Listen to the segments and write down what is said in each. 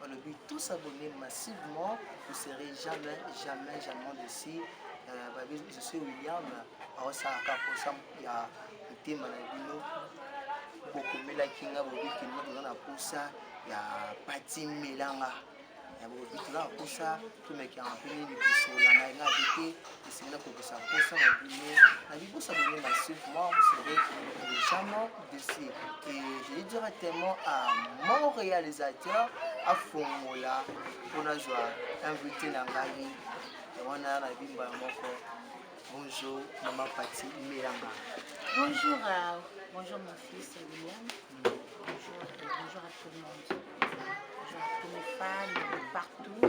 balobi tous abonner massivement vous serez jamais jamais jamais desi euh, babi je suis william aosalaka mposa ya motema na bino bokomelaki nga bobiki nga toza na mposa ya pati melanga ya bobiki toza na mposa tomekaka mpe nini kosola na nga bete esengeli nakokisa mposa na bino na bibosa bino na suivre moi vous serez légèrement déçu et je dis directement à mon réalisateur afongola mpo nazwa invité na ngai wana na bimba moko bonjour mama pati melanga bonjour uh, bonjour mon fils william Bonjour à tout le monde. Bonjour à tous mes fans de partout.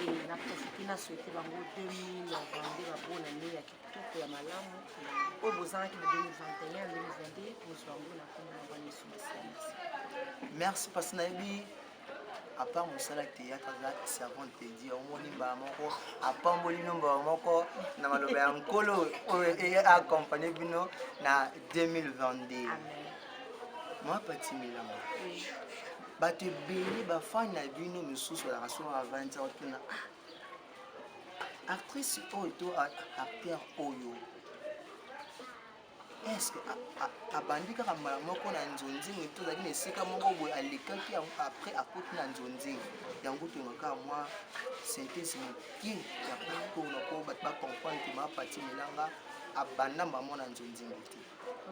Et na profite na souhaiter bango 2022 ba bonne année ya kitoko ya malamu. Oyo bozalaki na 2021 2022 bozwa yango na kombo na bana yesu masiya. Merci parce nayebi apart mosala théâtre aza servante de dieu omoni mbala moko apamboli bino mbala moko na maloba ya nkolo oyo eaccompagne bino na 2022 mwa patimilama bato ebele bafani na bino misusu alaka so a 20 ans tuna ah, actrice oyo to acteur oyo eske abandi kaka mbala moko na nzonzing to ozalaki na esika moko boye alekaki yango après akoti na nzonzing yango tongaka mwa synthèse moke ya mpona mpo bato bacomprendre ke mapati melanga abanda mbamo na nzonzing te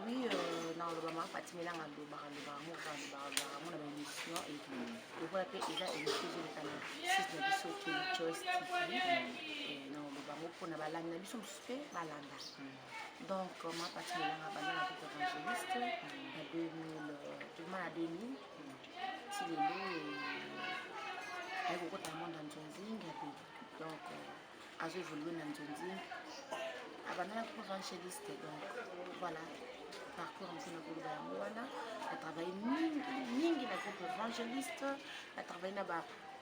oui euh, na oloba mapati melanga alobaka lobaka moko alobaka mona baémission lokola mpe eza émission ezoleka na site na biso kelichoice tv na oloba moko mpona balandi na biso mosusu mpe balanda Donc, moi, parce que j'ai abandonné la route évangéliste en 2000, du moins à 2000, si les loups, avec beaucoup de monde en Zonzing, donc, à ce jour, dans Zonzing, abandonné la route évangéliste, donc, voilà. parcours en nsina koloba yango wana na travaille mingi mingi na groupe évangéliste na travaille na ba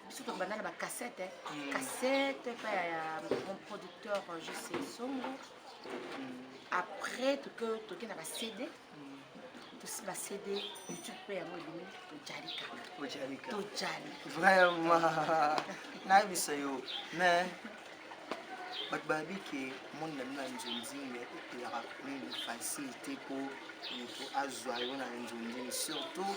biso tokobanda na bacassette hmm. cassette epa ya mon producteur euh, jose songo hmm. après toke na bacd tosi bacd youtube mpe yango ebimi tojali kaka tojali vraiment nayebisa yo mais bato bayebi ke monde na bino ya nzonzinga epelaka meme facile te mpo moto azwa yo na nzonzinga surtout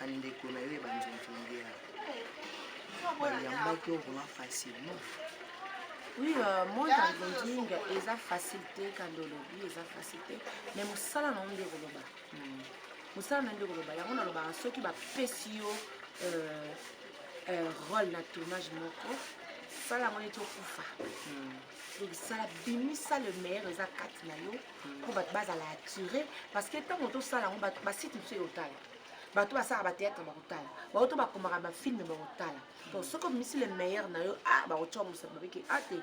bandeko na yo ya banzonzongela bayambaki yo vraimen facilement oui euh, monde ya nzonzinga eza facile te kando olobi eza facile te mais mosala na yo nde koloba hmm. mosala na yo nde koloba yango nalobaka soki bapesi yo euh, euh, role na tournage moko sala yango neti okufa hmm. donc sala bimisa le meilleur eza kati na yo mpo hmm. bato bazala attire parce que ntango tosala yango basite mosusu eyotala bato basalaka bateatre bakotala baoto bakomaka bafilme bakotala donc soki omisi le meilleur na yo a bakotya mosala babiki a te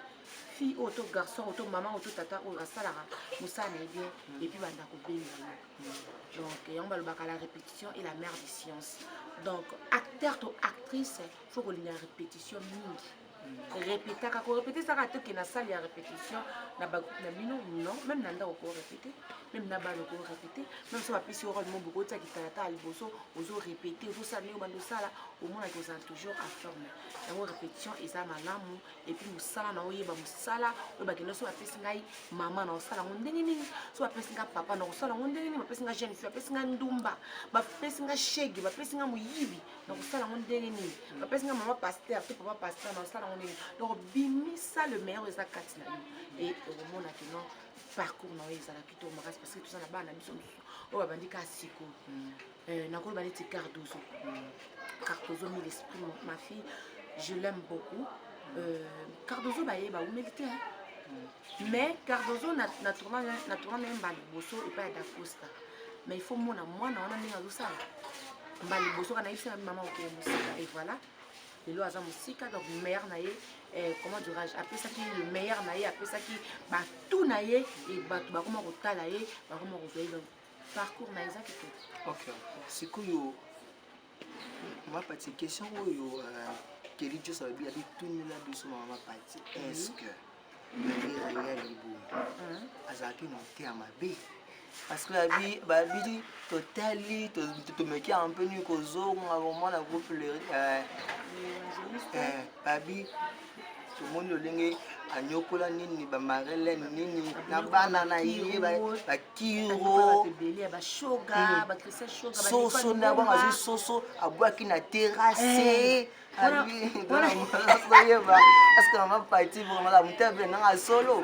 fille oyo to garçon oyo to mama oyo to tata oyo asalaka mosala na ye bien epuis banda kobenga yo donc yango balobaka la répétition et la mère de science donc acteur to actrice faut kolinga répétition mingi repetaka korepete ezaka ata oke na salle ya repetition na bagroupe na bino non meme na ndako korepete meme na bana okorepete meme so bapesi yo role mobo kotia kitalatala liboso ozorepete ozosala ndenge obanda osala omonaki ozala toujours informe yango repetition eza malamu epuis mosala na oyeba mosala oyo bakenda so bapesi ngai mama na osala yango ndenge nini so bapesi ngai papa na kosala yango ndenge nini bapesi ngai jeune fille bapesi ngai ndumba bapesi ngai shege bapesi ngai moyibi nakosala yango ndenge nini bapesi nga mama paster to papa paster nakosala yango ndenge donc bimisa le meilleur eza kati na yo e okomona kino parcours na yo ezala kitoko makasi parce que toza na bana na biso mosusu oyo babandi ka siko mm. eh, nakoloba neti cardozo mm. cardozo mille esprit ma fille je l'aime beaucoup euh, cardozo baye baumeli te mm. mais cardozo na, na tourna na tourna na ye mbala liboso epai ya dacosta mais il faut mona mwana wana ndenge azosala mbala liboso kana yebisa nabi mama okende mosika et voilà lelo aza mosika donc maire na ye eh, comment dirais-je apesaki le meilleur na ye apesaki batout na ye e bato bakoma kotala ye bakoma kozwa ye donc parcours na ye eza kitoko okay. sikoyo Mama Pati, question oyo euh, Kelly Joss abi abi tunela biso Mama Pati, est-ce que Maria ya libumu azalaki motema mabe? parce que abi babidi totali tomeki un peu nini kozonga vraiment na groupe le euh, euh, babi tomoni lolenge anyokola nini bamarelene nini na bana na ye bakiro soso na bango azwi soso abwaki na terase eh, oyeba parceke mama pati vraimentala moto ya bena nanga solo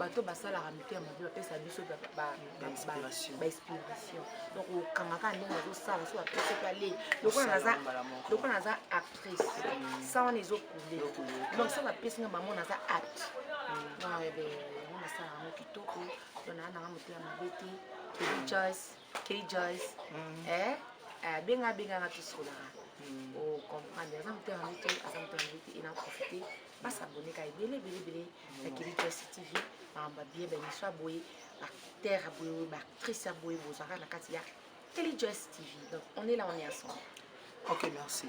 bato basalaka mito ya mabe bapesa biso bainspiration donc okangaka ndenge azosala so bapesa mpe ale lokola naza actrice mm. sa wana ezokule donc so bapesi nga mamo naza act mm. ah, eh yango nasala yango kitoko to naa nanga moto ya mabe te kjoyce kjoyce mm. eh, eh, abenga abenganga tosolaka ocomprendre aza moto ya mabe te aza moto ya mabe te ena profite basaboneka ebele ebele ebele na kili presse tv makambo abie baemission ya boye baacteur ya boye baactrice ya boye bozwaka na kati ya kili joyce tv donc on est là on est ensemble ok merci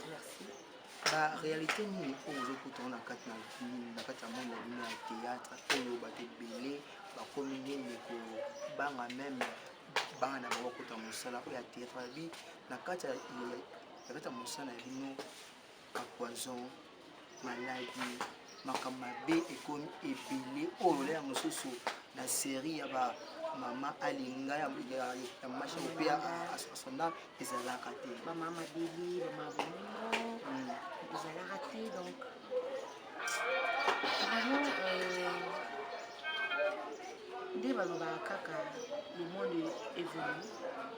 merci ba réalité nini oyo ozokutana na kati na na kati ya monde na bino ya théâtre oyo bato ebele bakomi nini kobanga meme bana na bango bakota mosala oyo ya théâtre babi na kati ya mosala na bino ba poison maladi makambo mabe ekomi ebele oyo olela mosusu na série ya ba mama alinga ya masha mpe asonda ezalaka te bamama beli bamama bongo hmm. ezalaka te donc vraiment euh, nde balobaka kaka le monde évolue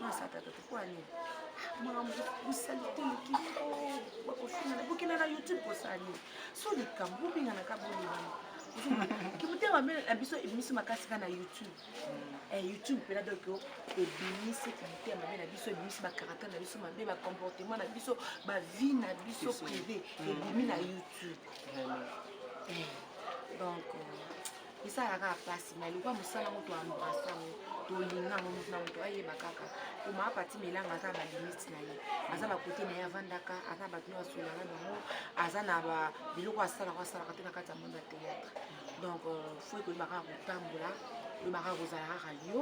masatata tokoya nini makambo bosalite eleki bakofingana bokenda na youtube kosala nini so likambo bobenganaka bolibana kimotema mbe na biso ebimisi makasi kaka na youtube eh, youtube mpena donc ebimisi kimotema mbe na biso ebimisi bacaractère na biso mabe bacomportement na biso bavie na biso privé ebimi na youtube eh, donc euh, esalaka kaka mpasi mai lokwa mosala yango toambrase yango tolinga yango moto na moto ayeba kaka koma apati melanga aza balimite na ye aza bakote na ye avandaka aza bato oyo asolaka nango aza na biloko asalaka asalaka te na kati ya monde ya théâtre donc euh, fo ekoyeba kaka kotambola oyeba kaka kozala kaka yo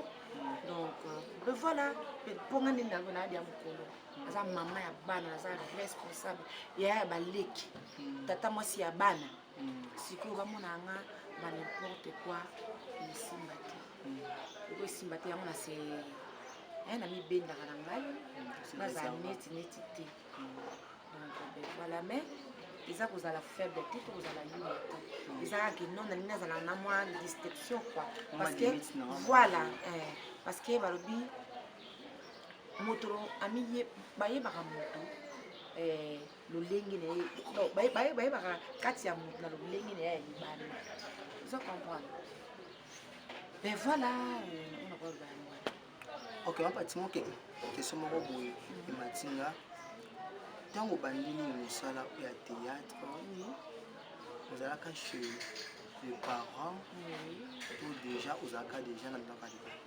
donc euh, voilà mpo nga nde nalgo na ya mokolo aza mama ya bana aza responsable yaya ya baleki hmm. tata mwasi ya bana sikoyo bamonaka nga ba n'importe quoi esimba te oko esimba te yango na se eh, namibendaka na ngai mm, nazala neti neti te mm. donc ben voilà mais eza kozala faible te to kozala yuma te mm. eza kaka no nalingi nazala na mwa distinction quoi parce que voilà eh, parce que balobi moto amiye bayebaka moto eh, lolenge na ye bayebaka kati ya moto na lolenge na ye ya libanda oza comprendre mais voilà euh, ona koloba yango wana ok mapatima oke keso moko boye emati nga ntango obandi nini mosala oyo ya théâtre ozalaka chez le parent to déjà ozalaka déjà na ndako ya libanda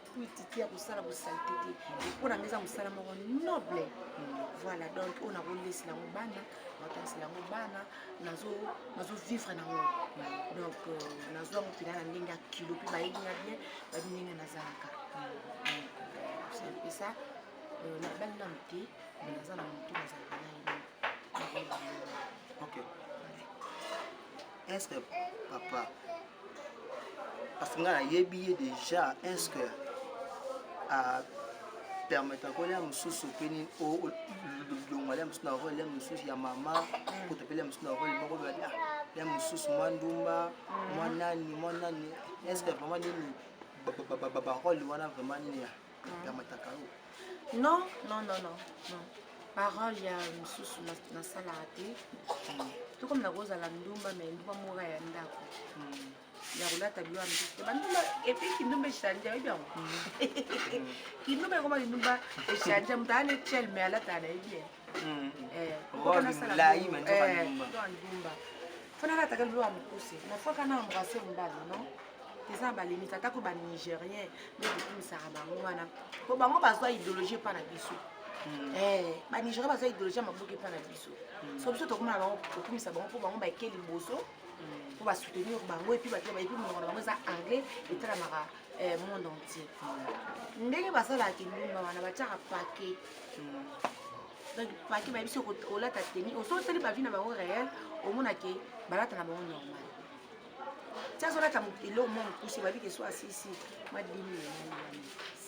politiki ya kosala bosalite te mpo na nga eza mosala moko noble voilà donc oyo nakolesela yango bana nakotanisela yango bana nazovivre nango donc euh, nazwa yango mpena na ndenge ya kilo mpe bayebi nga bien babi ndenge nazalaka mpesa euh, nabali nanu te me naza na motu nazalaka na ye ok est-ce que papa parce que ngai nayebi ye déjà est-ce que a permettre ko lia mosusu peni olongwa lia mosusu na role lia mosusu ya mama kutu mpe lia mosusu na role moko bali ah lia mosusu mwa ndumba mwa nani mwa nani est-ce que vraiment nini barole wana vraiment nini ya mataka oyo non non non non non parole ya mosusu nasalaka te to comme nakozala ndumba mai ndumba moka ya ndako ya kolata biloko ya mosusu te bandumba epuis kindumba echange oyebi yango kindumba ekoma kindumba echange moto aa ne chel mai alataka na ye bien fanalataka lelo ya mokuse nafaka na embrase mobali non eza na balimite atako banigérien nde kokumisaka bango wana po bango bazwa idéologie epa na biso Mm. Eh, banigéria baza idéologie ya maboki mpa na biso mm. so biso tokomona bango kokumisa bango mpo bango bake liboso mm. mpo basoutenir bango epuis bato bayebi monoko na bango eza anglais etalamaka eh, monde entier ndenge basalaka kindumba wana batiaka pake donc paki bayebi so olata teni osoteli bavi na bango réel omona ke balata na bango normal ti azolata eloko mwa mokuse bayebi ke so asisi mwa 10 mil elali wana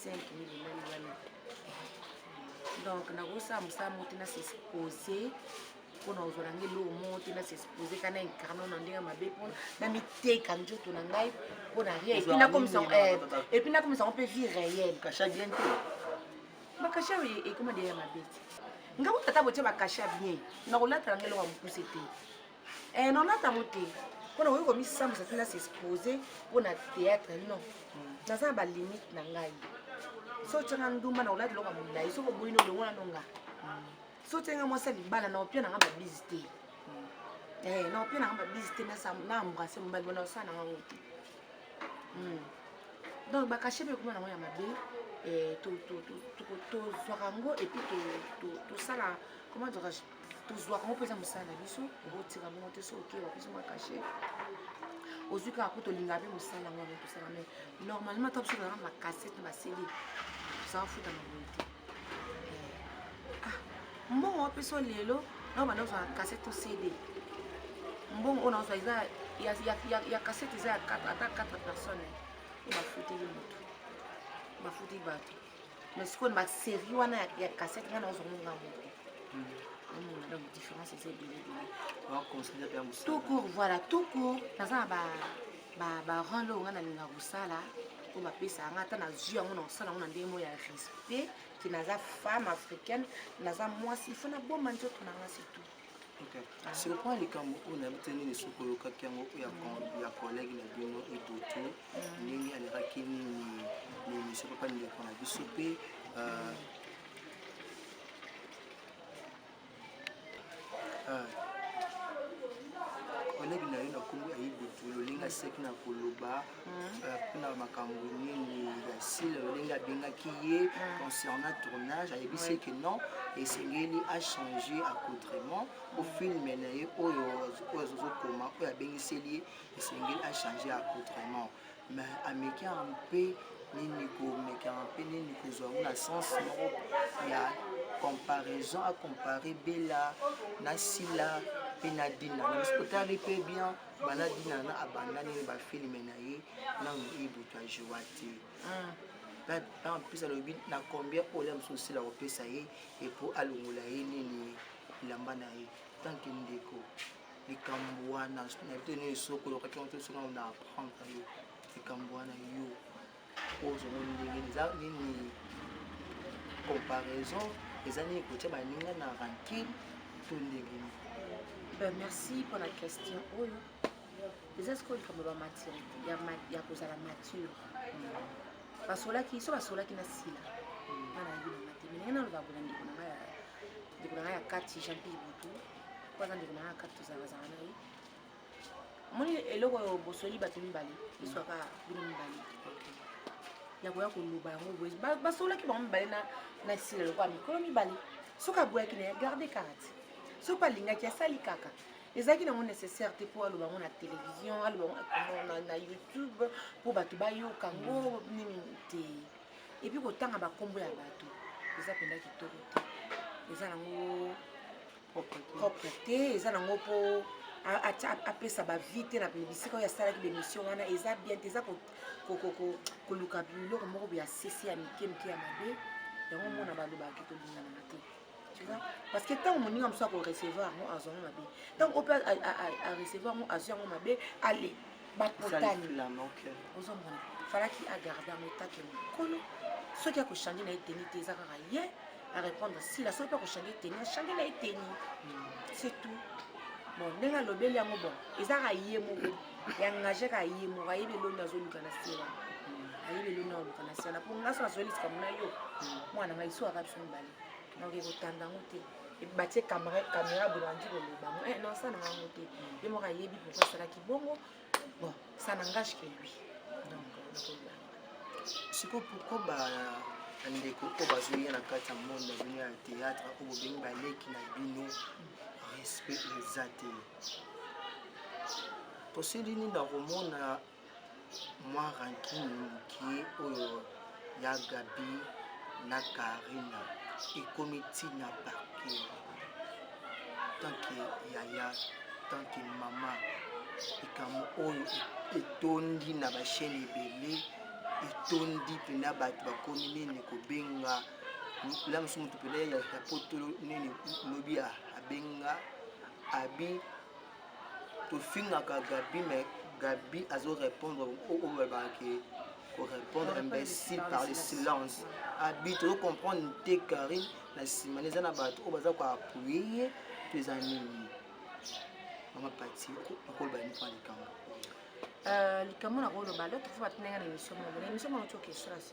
5 mil elali wana donc nakosala mosala moko te nasesepose mpona ozwala nge eloko moko te nasesepose ka na incarno na ndenge mabe mpona na miteka nzoto na ngai mpona rien epuis nakomisango mpe vie réel bakasha oyo ekoma deya ya mabe te nga kuta ata botie bakasha bien nakolatala nga eloko ya mokuse te eh, nalata yango te mpo na koki komisambisa te na s'expose mpo na théâtre non naza na balimite na ngai so otyanga ndumba na kolata eloko ya molai soki oboyi na olongo nano nga so otyanga mwasi ya libala na opia nanga babizi te eh, na opia nanga babizi te na embrase mobali bona osala nanga ngo te hmm. donc bakashe mpe ekoma nango ya mabe eh, tozwaka yango epuis tosala koma dirais tozwaka yango mpenza mosala na biso okotika bongo te so oke bapesi mwa kashe ozwi kaka kutu olinga mpe mosala yango yango tosala mai normalement ta biso tozalaka makasete basili tozala futa na boye te mbongo wapi so lelo na banda ozala kasete to cd mbongo oyo naozwa eza ya kasete eza ya ata 4 personne oyo bafuteli motu bafuti bato mais sikoyo na baserie wana ya kasete ngai naozwa monga moko omona donc différence eza ebele ebele tout court voilà tout court naza na ba ba ba role oyo ngai nalinga kosala oyo bapesaka ngai ata nazwi yango na kosala yango na ndenge moko ya respect ke naza femme africaine naza mwasi ifo nabomba nzoto na ngai situ ah. sur point likambo oyo nayebi te nini soki oyokaki yango ya collègue na bino idoto mm. ndenge alekaki nini mimisio papa ndeko na biso mpe euh, kolege na yo na kombo ya ibutu lolinga seki na koloba mpona hmm. euh, makambo nini ya sile lolinga abengaki ye hmm. concernant tournage ayebisi eke non esengeli achange accoutrement po filme na ye oyo azozokoma oyo abengiseli ye esengeli achange accoutrement me amekaka mpe nini komekaka mpe nini kozwa yango na sens moko ya comparaison acompare bela na sila mpe na dina na biso totali mpe bien bana dina na abanda nini bafilme na ye nano ebutu ya joa te en plus alobi na combien olia mosusu osila kopesa ye epo alongola ye nini elamba na ye tanke ndeko likambo wana na bito nini soki oyokaki yango te soki na apprendre yo likambo wana yo ozomoni ndenge eza nini comparaison eza nini kotya baninga na rankine to ndenge nini ben merci mpo na question oyo eza sikoyo likambo ya bamaturité ya kozala mature basolaki so basolaki na sila hmm. bana yebi nanga te me ndenge naloba bolandi ndeko na ngai ya kati jean pierre butu mpo aza ndeko na nga kati tozalazala na ye omoni eloko oyo bosoli bato mibale eswaka bino mibale ya koya koloba yango boye basololaki bango mibale na sila lokola mikolo mibale soki aboyaki na ya garde karate soki alingaki asali kaka ezalaki nango nécessaire te mpo aloba yango na télévision aloba yango na youtube mpo bato bayoka yango nini te epuis kotanga bakombo ya bato eza mpenza kitoko te eza nango propre te eza nango mpo apesa bavi te na bisika oyo asalaki bemission wana eza bien te eza koluka biloko moko boya sese ya mike mike ya mabe yango mona balobaki tolinganaka te tu vois parce que ntango moninga mosusu akorecevoir yango azwa yango mabe ntango ope arecevoir yango azwi yango mabe ale bakotani ozomona falaki agarde yango etake mokolo soki akochange na ye teni te eza kaka ye arépondre sila soki mpe akochange teni achange na ye teni c'est tout bon ndenge alobeli yango bon eza kaka ye moko yangage kaka ye moko ayebi eloni azoluka na sila ayebi eloni aoluka na sila mpo ngai so nazweli likambo na yo mwana ngai so aka biso mibale nakoki kotanda yango te batie camera boye bandi koloba yango eh, non sana yango te ye moko ayebi pourkoi asalaki bongo bon ça n'engage que lui donc sikoyo pourkoi ba bandeko oyo bazoya na kati ya monde na bino ya théâtre oyo bobengi baleki na bino respect eza te tosili nini na komona mwa rancune moke oyo ya Gabi na Carine ekomi ntina parke tanke yaya tanke mama likambo oyo etondi na bashene ebele etondi mpena bato bakomi nini kobenga la mosusu moto mpena ya poto nini lobi abenga abi tofingaka gabi me gabi azo répondre oyo balobaka ke korépondre imbécile par le silence abi tozo comprendre te karine na nsima na eza na bato oyo baza ko appuye ye to eza nini mama pati okoloba nini mpo na likambo likambo na koloba lo tofuba tinenga na émission moko na émission moko toki estrasi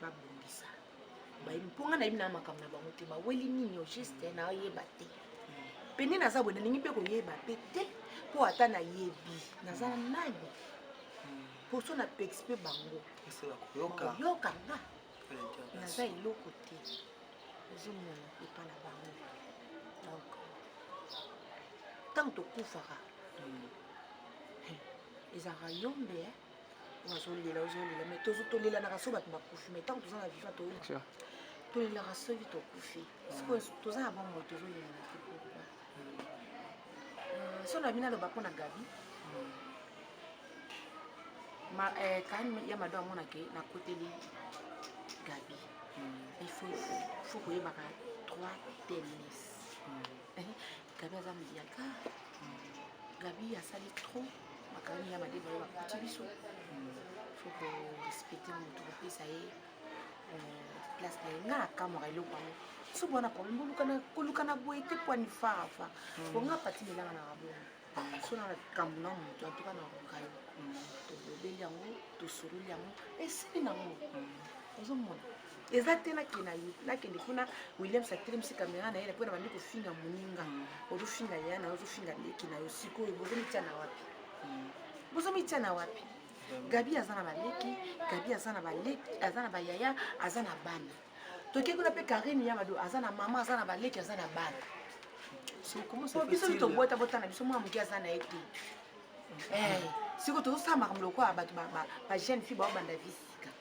babongisa bayebi mpo ngai nayebi na makambo na bango te baweli nini au juste eh, nayeba te mpe nde naza boye nalingi mpe koyeba mpe te mpo ata nayebi naza nani mposo na pekisi mpe bango yoka nga naza eloko te ozomona epa na bango donc ntango tokufaka hmm. ezalaka yombe eh? ozolela ozolela mais tozo tolelanaka so bato bakufi mais ntango toza na viva to tolelaka soki tokufi sikoyo toza na bomoi tozolelana te pourkoi euh, so na bino aloba mpo na gabi euh, kani ya mado amonake nakoteli gabi hmm. il faut koyebaka trois tenis gabi aza mediaka gabi asali trop makambo ya mabe bayo bakuti biso fo korespecte motu kopesa ye place na ye nga nakamwaka eloko yango so bwana problème kolukana boye te pwani farafa po nga pati melanga na babongo so na likambo na moto antuka na koka yo tolobeli yango tosololi yango esili nango ozomona eza te nakenda nakende kuna williams atelemisi kamera na ye napo nabandi kofinga moninga mm. ozofinga ya na ozofinga leki na yo sikoyo bozomitya na wapi mm. bozomitya na wapi gabi aza na baleki gabi aza na baleki aza na bayaya aza na bana toke kuna mpe karine ya mado aza na mama aza na baleki aza na bana biso tobota bota na biso mwana moke aza na ye te eh, sikoyo tozosala makambo lokola bato bajeune fille baobanda visi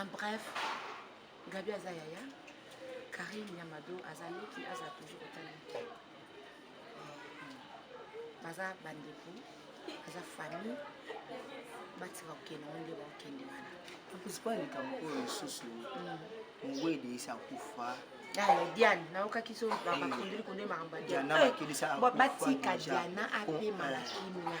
en bref gabi aza yaya karine yamado aza leki aza toujours otaleki eh, baza bandeko aza famille batika kokende ngo nde bakokende wana akozwa likambo oyo lisusu mm. mowede esi akufa diane nayokaki so bakundeli kunde makambo ya diane batika diana apema na kimia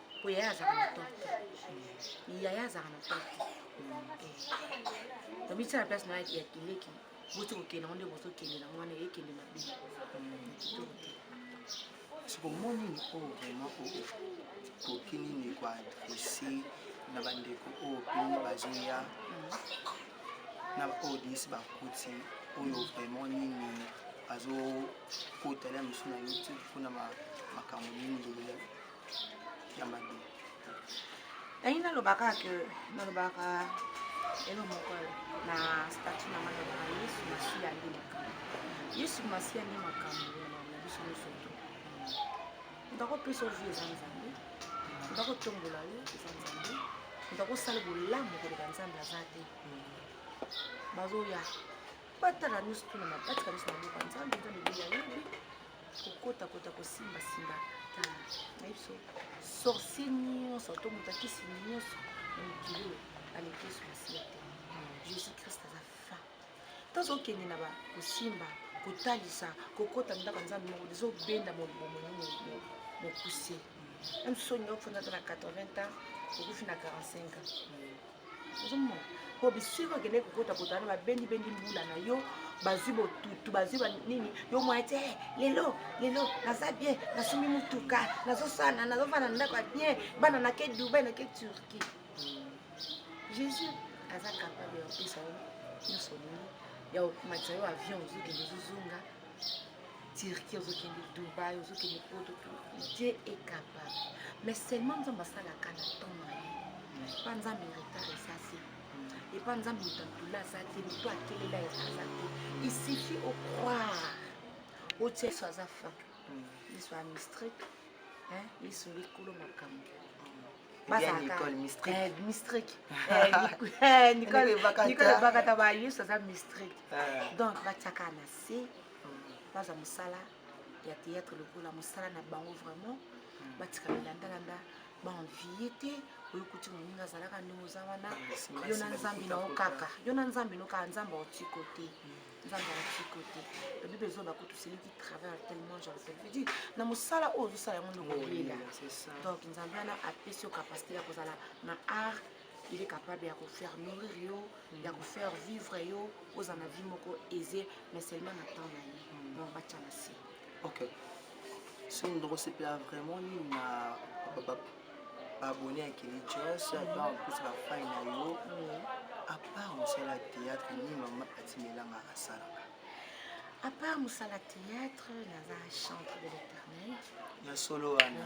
po yaya azalaka na torte yaya azalaka na torte tomisa na place na ya kileki boti kokende yango nde bozokende na mwana ekende mabe kitoko te soki omoni nini oyo vraiment okoki nini koadresse na bandeko oyo pini bazoya na baoyo desi bakuti oyo vraiment nini bazokota lia mosu na youtube mpona makambo nini ya mabe ntangi nalobaka ke nalobaka elo moko na statu na ngai nalobaka yesu masiya nde makambo yesu masiya nde makambo na biso nyonso to moto akopesa ovi eza nzambe moto akotombola yo eza nzambe moto akosala bolamu koleka nzambe aza te bazoya batala nyonso tuna batika nyonso maboko ya nzambe nzambe ebeya yebi kokotakota kosimbasimba na biso sorcier nyonso to moto akisi nyonso na mokili oyo aleki yesu masiya te jésus christ aza fin tozokende na bakosimba kotalisa kokota ndako nzambe moko ezobenda mobomo mokuse meme soki olingi ofanda ata na 80 ans okufi na 45 ans ozomona po bisika okende kokota kotana babendi bendi mbula na yo bazwi botutu bazwi banini yo mwa te eh, lelo lelo naza bien nasombi motuka nazosana nazofana ndako ya bien bana nake dubai nake turquie jésus aza capable ya kopesa yo nyonso nini ya komatisa yo avion ozokende ozozonga Turquie ozokende Dubaï ozokende poto Dieu est capable mais seulement nzambe asalaka na temps na ye epa nzambe retard eza te epa nzambe moto atula aza te moto akelela eza aza te il suffit au croire otia yesu aza fin yesu amistrike yesu nde kolo makambo mistrike nicole ebakata bayesu aza mistrike donc batiaka na se baza mosala ya théâtre lokola mosala na bango vraiment hmm. batika milandalanda baenvie te oyokuti moninga azalaka ndenge oza wana hmm, yo na nzambe nao kaka yo na nzambe no kaka nzambe aotiko te hmm. nzambe aotiko te lobi bezo bakutu seleki travail tellement jalpelvidi na mosala oyo ozosala yango ndokolela donc nzambe wana apesi yo capacité ya kozala na art il est capable ya kofaire nourrir yo mm. ya kofaire vivre yo oza na vie moko aise mais seulement na temps na ye mm. donc batya na se ok soki moto akosepela vraiment nini na baabonne ya keli jos mm. ata plus bafai na yo apart mosala ya théâtre nini mama atimelanga asalaka à part mosala théâtre naza chante de l'éternel ya solo wana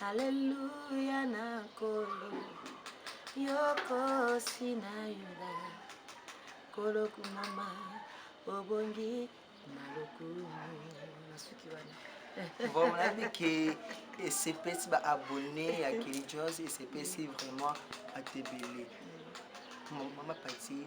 Alléluia na kolo yoko sina yuda kolo kumama obongi na lokumu na suki wana bon nayebi ke esepesi ba abonné ya kili jos esepesi vraiment atebele mama pati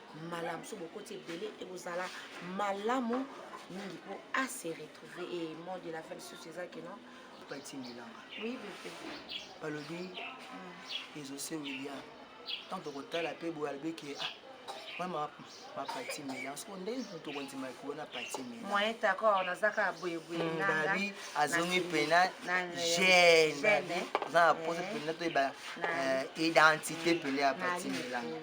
malamu so bokoti ebele ekozala malamu mingi mpo ase retrouve e mot de la fin lisusu eza kino batindelanga oui bebe balobi hmm. ezose william ntango tokotala mpe boye alobi ke ah, mama mapati mela soko nde moto okondima ekobona pati mela moyen d'accord naza kaka boyeboyebabi hmm, azongi mpena gene aza na posa mpena toyeba identité mpena ya pati melanga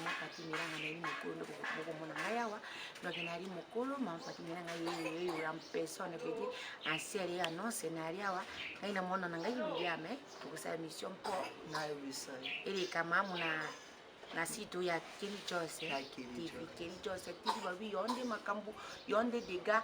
mapati melanga nayebi mokolo nde bokomona ngai awa donc nayali mokolo mapati melanga yeyola personne pete asiali ye annonce nayali awa ngai na mwana na ngai bilia me tokosala mission mpo eleka mamu na na site oyo ya keli jose tv keli jose tv babi yo nde makambo yo nde dega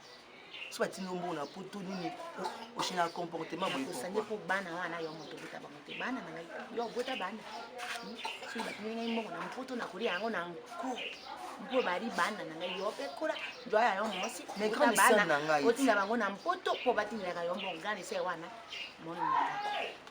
so batindi yo mbongo na poto nini oche na comportement boye osangi mpo bana wana yo moto obota bango te bana na ngai yo obota bana hmm? soki batindi ngai mbongo na mpoto nakolia yango na nko mpo bali bana na ngai yo mpe kola joya yo mwasi otinda bango na mpoto mpo batindaka yo mbongo gana ese wana moni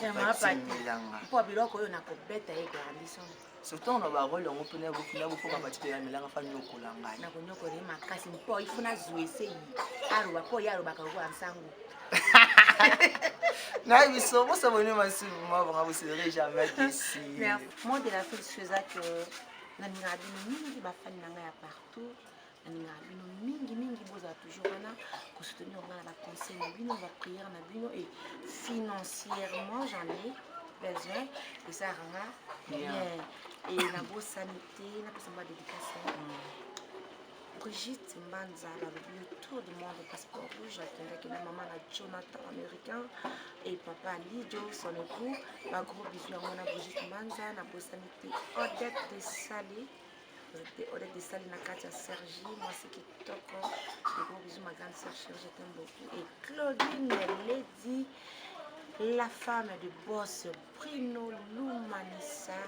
batimilanga mpo biloko oyo nakobeta ye garandison surtout na barole yango mpena bofina bokoma batikela milanga fa nyokola ngai nakonyokola ye makasi mpo ifo nazwa eseyi aloba mpo ye alobaka lokola nsango naye biso bosa boni masubu mabanga boserei jamais desi mot de la fin soeza que nalingaka bino mingi bafani na ngai ya partout nalingaka bino mingi mingi bozala toujours wana kosoutenir nga na baconseil na bino baprière na bino e financièrement j'en ai besoin ezalaka nga bien e nabosani te napesa mba dédicace Brigitte Mbanza balobi yo tour du monde passeport rouge akendaki na mama na Jonathan américain et papa Lidio son époux bagros bisu yango na Brigitte Mbanza nabosani te Odette de Sale Odette, Odette Desali na kati ya Sergi, mwasi kitoko. Gros bisous ma grande sœur chérie, je t'aime beaucoup. Et Claudine Lady, la femme de boss Bruno Lumanissa,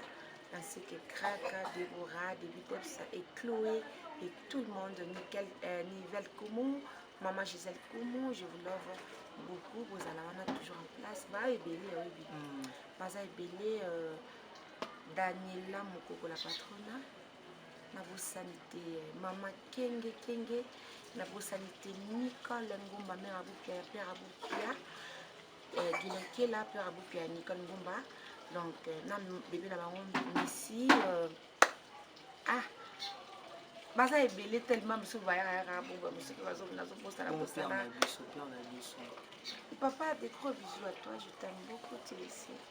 ainsi que Kraka, Deborah, Debitepsa et Chloé et tout le monde, Nickel, euh, Nivelle Koumou, Maman Gisèle Koumou, je vous love beaucoup. Bozala wana toujours en place. Ba ebele, oyebi. Baza ebele. Euh, Daniela Mokoko la patrona nabosani te mama kenge kenge nabosani te nicole ngomba mère abopia ya père abopia eh, gilakela père abopia ya nicole ngomba donc eh, na bebe na bango misi euh, ah baza ebele tellement biso bayakayaka boba mosuki nazobosana bosana papa de gros bisous à toi je t'aime beaucoup tilesi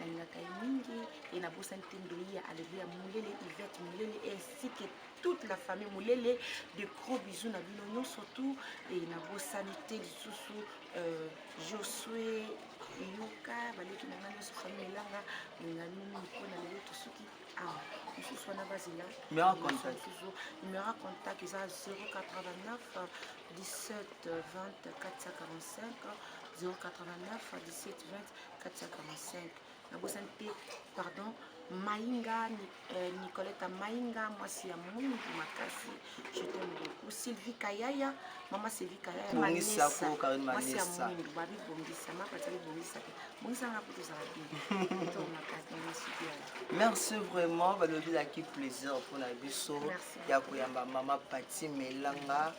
nalingaka ye mingi e nabosani te ndoi ya aleluya molele ivete molele ainsi que toute la famille molele de gros bisous na bino nyonso tout e nabosani te lisusu euh, josue yoka baleki na ngai nyonso famille elanga linga bino mingi mpo na lelo tosuki awa mosusu wana bazela mosusu numero contact eza 089 17 20 445 089 17 20 katiaka ma 5 nabosani te pardon mainga euh, nicoleta mainga mwasi ya mwindu makasi je t'aime beaucoup sylvie kayaya mama sylvie kayaya mwasi ya mwindu babi bongisa mapati abi bongisa te bongisa nga po tozala bien to makasi masuki ya merci vraiment balobelaki plaisir mpona biso ya koyamba mama pati melanga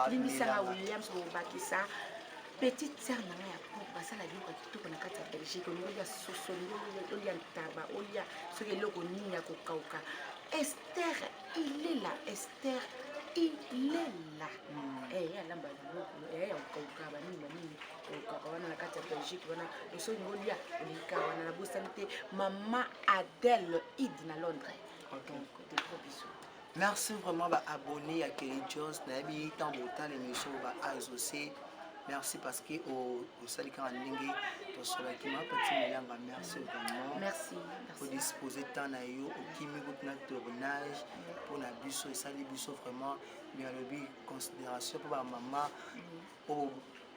limbisaka williams obakisa petite sœur na ngai ya pop basala biloko ya kitoko na kati ya belgique olingi olya soso olingi olya ntaba olya soki eloko nini ya kokauka ester ilela ester ilela hmm. eh, ye alamba biloko eh, ya kokauka banini banini kokauka wana na kati ya belgique wana oso olingi olya olika wana nabosani te mama adele id na londres donc de gros bisous Merci vraiment ba abonné ya Kelly Jones nayebi ntango botala émission ba azose merci parce que osali kaka ndenge tosolaki ma pati melanga merci vraiment merci odispose temps na yo okimi kutu na tournage mpo na biso esali biso vraiment mais alobi considération mpo bamama oyo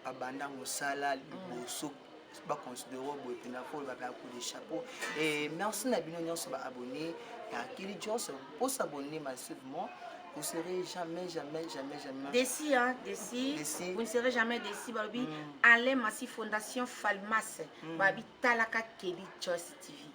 abanda mosala liboso mm. baconsidere boye mpenza mpo olobaka ya kode chapeau e merci na bino nyonso baabonne ya kili johnson mpo s'abonne massivement vous serez jamais jamais jamais jamais déci hein déci vous ne serez jamais déci balobi mm. alain massi fondation falmas mm. balobi talaka keli joyce tv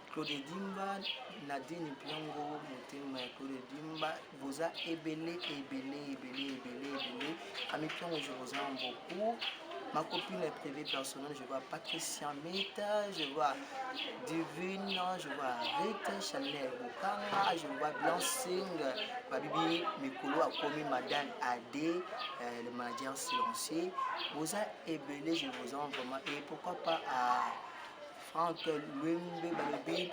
Claude Dimba, Nadine Mpiango, motema ya Claude Dimba, boza ebele ebele ebele ebele ebele. Ami Mpiango, je vous aime beaucoup. Ma copine est privée personnelle, je vois Patricia Meta, je vois Divine, je vois Rita, Chanel Bukanga, je vois Blancing, Babibi Mikolo a commis Madame Adé, euh, le manager silencieux. Boza ebele, je vous aime vraiment. Et pourquoi pas à Franck Lumbe balobi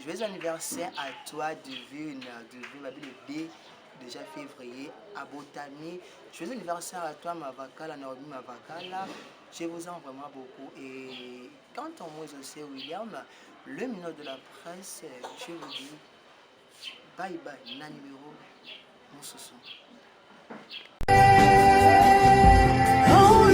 joyeux anniversaire à toi divine divine babi le 2 déjà février abotami joyeux anniversaire à toi mavakala naomi mavakala je vous aime vraiment beaucoup et quant à moi aussi William le minot de la presse je vous dis bye bye na numéro mosusu